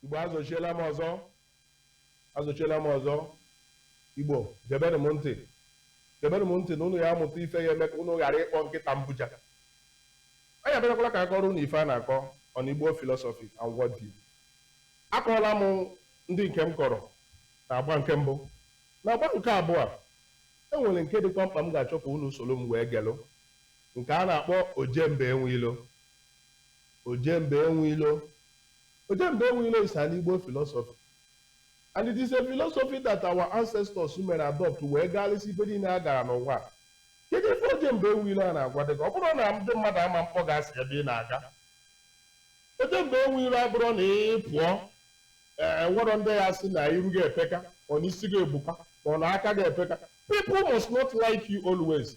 igbo azọchiela m ọzọ azọchiela m ọzọ igbo gebenụ m ntị gebenụ m ntị na unu ya amụta ife ya-eme ka unu ghara ịkpọ nkịta mbuja anyị abịakwala ka a kọọrọ unu ife a na-akọ on igbo philosophy and world view akọọla m ndị nke m kọrọ na agba nke mbụ na agba nke abụọ e nwere nke dịkwa mkpa m ga-achọ ka unu soro m wee gelụ nke a na-akpọ Ojemba Enweilo. Ojemba Enweilo Ojemba Enweilo is an Igbo philosophy and it is a philosophy that our ancestors mere adopt wee gaalịsị ije niile a gara n'ụwa. Kedu ife Ojemba Enweilo a na-agwa gị? Ọ bụrọ na ndị mmadụ ama mkpọ gị asị ebe ị na-aga? Ojemba Enweilo abụrọ na ị pụọ e nwerọ ndị ya-asị na iru gị epeka or na isi gị ebuka or na aka gị epeka people must not like you always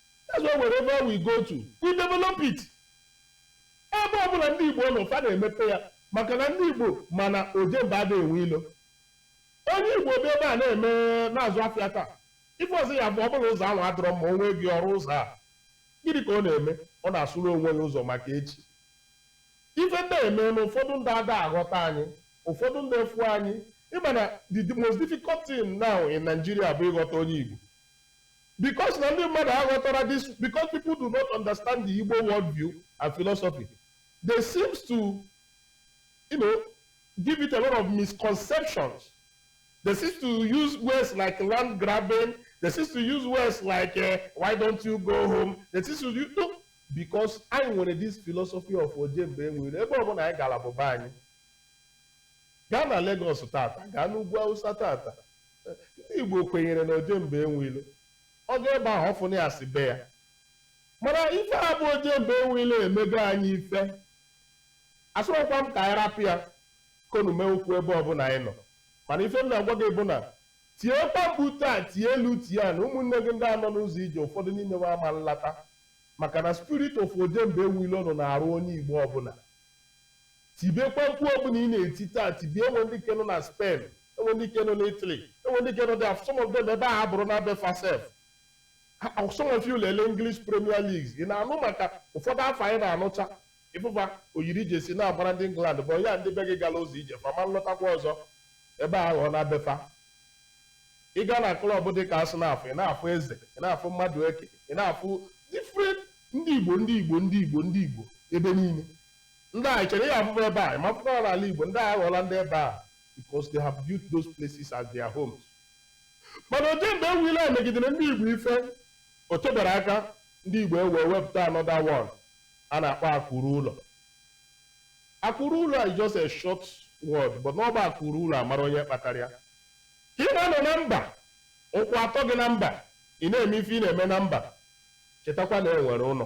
that's why wherever we go to we develop it ebe ọbụla ndị igbo nọ fa na-emepe ya maka na ndị igbo ma na ojemba ada enwe ilo onye igbo bụ ebe a na-eme na-azụ afịa taa ife ọzọ ya-abụ ọ bụrụ na ụzọ ahụ adịrọ mma o nwee ego ọ rụọ ụzọ a gịnị ka ọ na-eme ọ na-asụrụ onwe ya ụzọ maka echi ife na-eme na ụfọdụ ndị ada aghọta anyị ụfọdụ ndị efu anyị ị ma na the most difficult thing now in Nigeria bụ ịghọta onye igbo Because na ndị mmadụ aghọtarọ this because people do not understand the Igbo worldview and philosophy, they seems to you know, give it a lot of misconceptions. They seems to use words like land grabbing, they seems to use words like uh, why don't you go home, they seems to use, no, because anyị nwere this philosophy of Ojemba Enweilo, ebe ọbụla anyị gara bụ be anyị. Gaa na Lagos tata, gaa n'ugwu Awụsa tata, Ndị Igbo kwenyere na ojemba enwe ilo. Ọ gaa ebe ahụ, ọ fụnụ ya as be ya. Mana ife a bụ ojemba enwe ilo emego anyị ife. Asịrọkwa m ka anyị rapụ ya konu mee okwu ebe ọbụla anyị nọ. Mana ife m na-agwa gị bụ na tiekwa mkpu taa, tie elu tie ana, ụmụnne gị ndị a nọ n'ụzọ ije ụfọdụ n'ime ha ama nlata. Maka na spirit of ojemba enwe ilo nọ n'arụ onye Igbo ọbụla. Tibekwa mkpu ọbụla ị na-eti taa, tibie e nwee ndị nke nọ na Spain, e nwee ndị nke nọ na Italy, e nwee ndị nke nọ there, some of them ebe ahụ abụrụna be fa sef. Ha- Some of you lele English Premier League, ị na-anụ maka ụfọdụ afa anyị na-anụcha ị fụ fa yiri jersey na-agbara ndị England bụ ya ndị be gị gara ụzọ ije fa ama nlọtakwa ọzọ ebe ahụ aghọọna be fa ị gaa na club dị ka Arsenal ị na-afụ Eze ị na-afụ Madueke ị na-afụ different ndị Igbo ndị Igbo ndị Igbo ndị Igbo ebe niile Ndị a, i chere ị ga-afụ fa ebe a? Ị ma fụkwa ha n'ala Igbo. Ndị a aghọọla ndị ebe a because they have built those places as their homes. Mana ojemba enwe ilo a megidere ndị Igbo ife, o tebere aka ndị Igbo ewee wepụta another one a na-akpọ akụ ruo ụlọ. Akụ ruo ụlọ is just a short word but na ọ bụ akụ ruo ụlọ a mara onye kpatara ya. Ka ị na-anọ na mba, ụkwụ atọ gị na mba, ị na-eme ife ị na-eme na mba, chetakwa na e nwere ụlọ.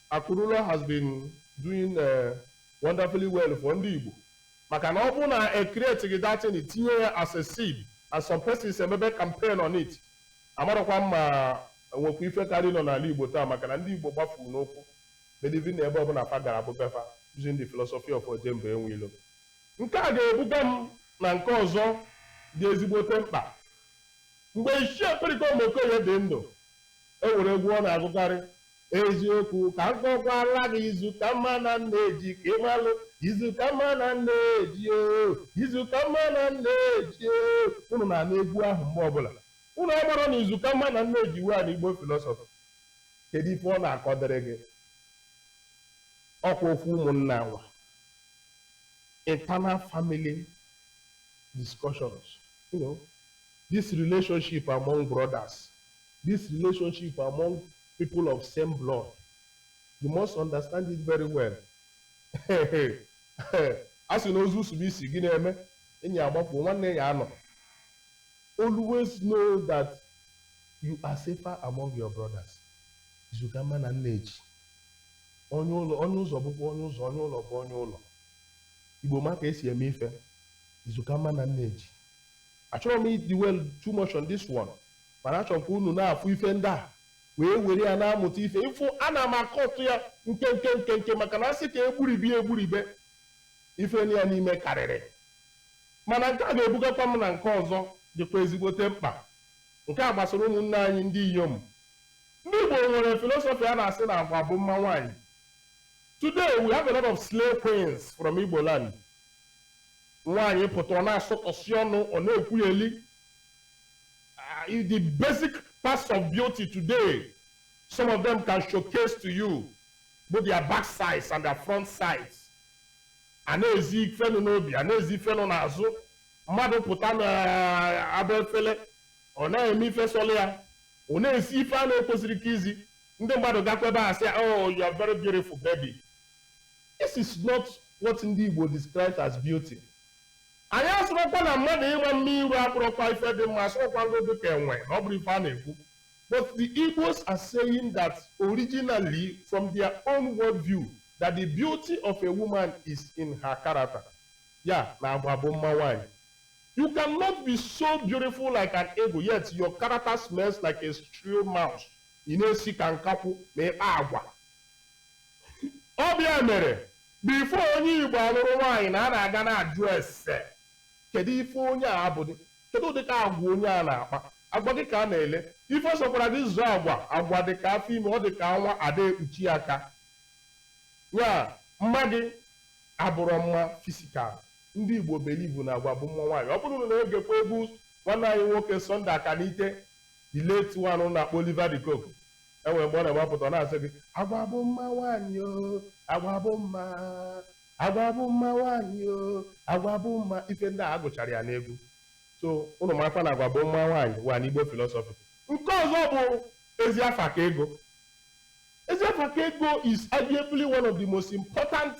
Akụ ruo ụlọ has been doing wonderfully well for ndị Igbo maka na ọ bụ na e createghị that thing tinye ya as a seed and some persons emebe campaign on it amarọkwa m ma nwekwa ife kara ịnọ n'ala Igbo taa maka na ndị Igbo gbafuru n'ukwu believing na ebe ọbụla fa gara bụ be fa using the philosophy of Ojemba enwe ilo nke a ga-ebuga m na nke ọzọ dị ezigbote mkpa mgbe Ichie Pericoma Okoye dị ndụ e nwere egwu ọ na-agụkarị Eziokwu ka m kọkwara gị izu ka mma na nneji ka ị malụ izu ka mma na nneji o izu ka mma na nneji o unu na-anụ egwu ahụ mgbe ọbụla unu amarọ na izu ka mma na nneji wee na Igbo philosophy kedu ife ọ na-akọdịrị gị ọkwa okwu ụmụnna nwa internal family discussions you know this relationship among brothers this relationship among people of same blood you must understand it very well a sị na ozu sibe isi gịnị eme enyi ya agbafuo nwanne ya anọ always know that you are safer among your brothers izu ka mma na nneji onye ụlọ onye ụzọ bụkwa onye ụzọ onye ụlọ bụ onye ụlọ igbo ma ka esi eme ife izu ka mma na nneji achọrọ m ịdwell too much on this one mana achọrọ m ka unu na-afụ ife ndị a wee were ya na-amụta ife ị fụ ana m akọtụ ya nkenke nkenke maka na asị ka e gburibe egburibe ife ya n'ime karịrị mana nke a ga-ebugakwa m na nke ọzọ dịkwa ezigbote mkpa nke a gbasara ụmụnne anyị ndị inyom ndị Igbo nwere philosophy a na-asị na agwa bụ mma nwaanyị today we have a lot of slay queens from Igbo land nwaanyị pụta ọ na-asọtọsi ọnụ ọ na-ekwugheli uh, is the basic parts of beauty today. Some of them can showcase to you both their back sides and their front sides. A na-ezi ife nọ n'obi, a na-ezi ife nọ n'azụ. Mmadụ pụta n'aba efele, ọ na-eme ife sọlụ ya, ọ na-ezi ife a na-ekwesịrị ka izi. Ndị mmadụ gakwa ebe a sị, oh, you are very beautiful baby. This is not what ndị Igbo describes as beauty. Anyị asịrọkwa na mmadụ ịma mma iru abụrọkwa ife dị mma, asịrọkwa ngị dị ka enwe na ọ bụrọ ife a na-ekwu. But the Igbos are saying that originally from their own worldview that the beauty of a woman is in her character. Ya na agwa bụ mma nwaanyị. You cannot be so beautiful like an eagle yet your character smells like a shrew mouse. Ị na-esi ka nkakwụ ma ị kpa agwa. Ọ bụ ya mere Before onye Igbo alụrụ nwaanyị na a na-aga na-ajụ ese. Kedụ ife onye a abụdị? Kedụ ụdịka agwa onye a na-akpa? Agwa gị ka a na-ele. Ife ọ sọkwara gị zoo agwa, agwa dị ka afọ ime, ọ dị ka anwụ ada ekpuchi ya aka. Ya mma gị abụrọ mma fisikal. Ndị Igbo belivu na agwa bụ mma nwaanyị. Ọ bụrụ na unu na-egekwa egwu nwanne anyị nwoke Sunday Akanite, the late one unu na-akpọ Oliver de Coque, e nwere mgbe ọ na-ebe apụta ọ na-asị gị agwa bụ mma nwaanyị o agwa bụ mma agwa bụ mma nwaanyị o agwa bụ mma ife ndị a a gụchara ya n'egwu so ụnụ makwa na agwa bụ mma nwaanyị wa n'igbo filọsọfị nke ọzọ bụ ezi afa ka ego ezi afa ka ego is arguably one of the most important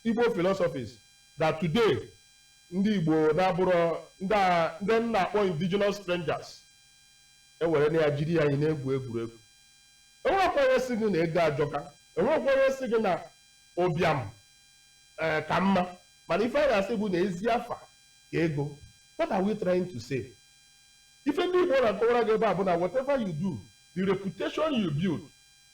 igbo philosophies that today ndị igbo na-abụrụ ndị a- ndị m na-akpọ indigenous strangers ewerena ya jiri ya na-egwu egwuregwu enwekwa onye sị gị na ego ajọka enwekwa onye sị gị na ụbịam ee ka mma mana ife a na-asị bụ na ezi afa ka ego what are we trying to say ife ndị igbo na-akọwara gị ebe a bụ na whatever you do the reputation you build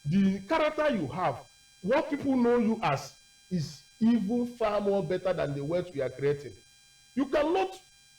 the character you have what people know you as is even far more better than the wealth you are creating you cannot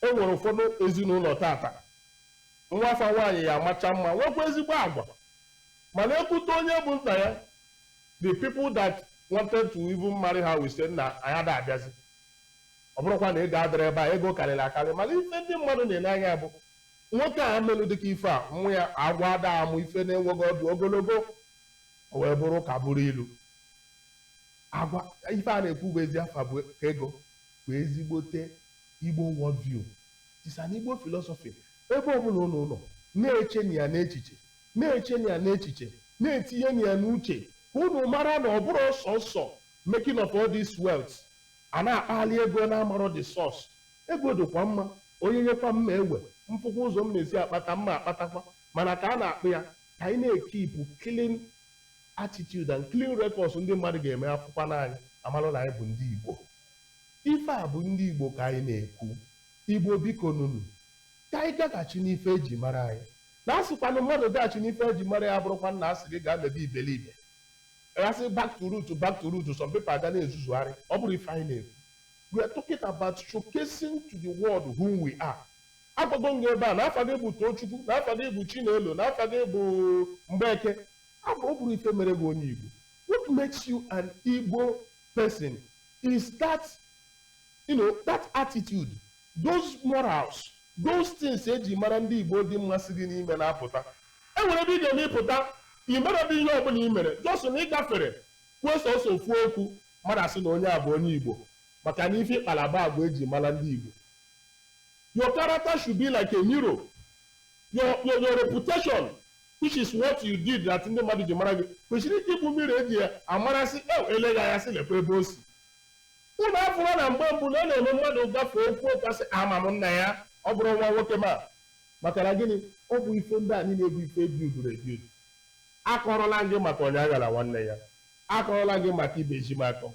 E nwere ụfọdụ ezinụlọ tata, nwa fa nwaanyị ya amacha mma, nwekwa ezigbo agwa, mana e kwute onye bụ nna ya, the people that wanted to even marry her will say na anyị ada abịazi. Ọ bụrọkwa na ego adịrọ ebe a, ego karịrị akarị, mana ife ndị mmadụ na-ele anya bụ nwoke a melụ ụdịka ife a, nwa ya agwọ ada amụ ife na-enweghị ọdụ ogologo, o wee bụrụ ka bụrụ ilu. Agwa ife a na-ekwu bụ ezi afa bụ ka ego bụ ezigbote Igbo world view, is an Igbo philosophy. Ebe ọbụla ụnụ nọ, na-echenu ya n'echiche, na-echenu ya n'echiche, na-etinyenu ya n'uche ka ụnụ mara na ọ bụrọ sọsọ making of all this wealth a na-akpali ego na-amarọ the source. Ego dịkwa mma, onye nyekwa m m ewe, m fụkwa ụzọ m na-esi akpata m akpatakwa, mana ka a na-akpụ ya, ka anyị na-ekipu clean attitude and clean records ndị mmadụ ga-eme afụkwanụ anyị amalụ na anyị bụ ndị Igbo. Ife a bụ ndị Igbo ka anyị na-ekwu. Igbo biko nụ nụ. Ka anyị gaghachi n'ife e ji mara anyị. Na a sịkwanụ mmadụ gaghachi n'ife e ji mara ya abụrọkwanụ na a sị gị gaa mebe iberibe. A sị back to root, back to root, some people aga na-ezuzugharị. Ọ bụrọ ife anyị na-ekwu. We are talking about showcasing to the world who we are. Agwago m gị ebe a na afa gị bụ Tochukwu, na afa gị bụ Chinelo, na afa gị bụ Mgbeke. Abụ ọ bụrọ ife mere gị onye Igbo. What makes you an Igbo person is that you know that attitude those morals those things eji mara ndị Igbo dị mma si gị n'ime na-apụta e nwere ebe ị ga-eme ịpụta ị mere bụ ihe ọbụla ị mere just na ị gafere kwuo sọsọ ofu okwu mmadụ asị na onye a bụ onye Igbo maka na ife ị kpala bụ agwa eji mara ndị Igbo your character should be like a mirror your your your reputation which is what you did that ndị mmadụ ji mara gị kwesịrị ịbụ mirror eji ya amara sị ew e lee gị anya sị lekwa ebe o si unu afụrọ na mgbe mbụ na a na-eme mmadụ gafee okwu ka a sị ama m nna ya ọ bụrụ nwa nwoke ọma maka na gịnị ọ bụ ife ndị a niile bụ ife e bidoro ebido akọrọla gị maka onye aghara nwanne ya akọrọla gị maka ibe ji m akọ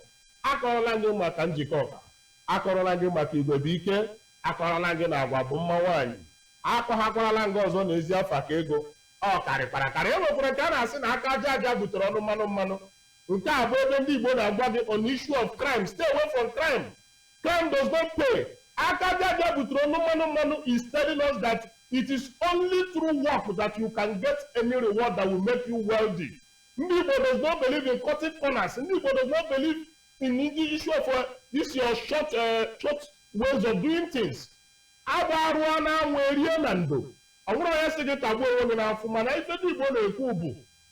akọrọla gị maka njikọ ka akọrọla gị maka igwe bụ ike Akọrọla m gị na agwa bụ mma nwaanyị. Akọwakwarala m gị ọzọ na ezi afa ka ego. Ọ karịkwara akarị. E nwekwara nke a na-asị na aka aja aja butere ọnụ mmanụ mmanụ. Nke a bụ ebe ndị Igbo na-agwa gị on issue of crime, stay away from crime. Crime does not pay. Aka aja aja butere ọnụ mmanụ mmanụ is telling us that it is only through work that you can get any reward that will make you wealthy. Ndị Igbo does not believe in cutting corners. Ndị Igbo does not believe in the issue of uh, this your short, uh, short ways of doing things. Agba arụọ na anwụ erie na ndo. O nwerọ onye sị gị tagbuo onwe gị n'afụfụ mana ife ndị Igbo na-ekwu bụ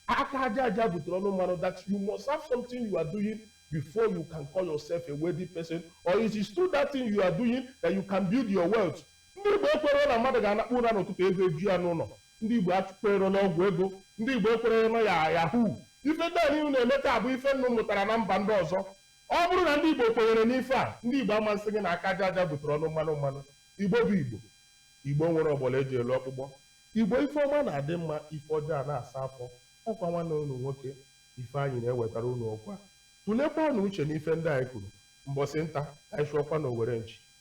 aka aja aja butere ọnụ mmanụ that you must have something you are doing before you can call yourself a wealthy person or it is through that thing you are doing that you can build your wealth Ndị Igbo ekwerọ na mmadụ ga-anakpu ụra n'ụtụtụ ife eju ya n'ụlọ. Ndị Igbo ekwerọ n'ọgwụ ego. Ndị Igbo ekwerọ na ya yahoo. Ife ndị a niile na-eme taa bụ ife unu mụtara na mba ndị ọzọ. Ọ bụrụ na ndị Igbo kwenyere n'ife a, ndị Igbo ama asị gị na aka aja aja butere ọnụ mmanụ mmanụ. Igbo bụ Igbo. Igbo nwere ọgbọlọ eji elu ọkpụkpọ. Igbo ife ọma na-adị mma, ife ọjọọ na-asa afọ. Ọkwa nwanne unu nwoke Ifeanyị na-ewetara unu okwu a. Tụlekwanụ uche n'ife ndị anyị kwuru. Mbọsị nta, ka anyị chụọkwa n'owere nchi.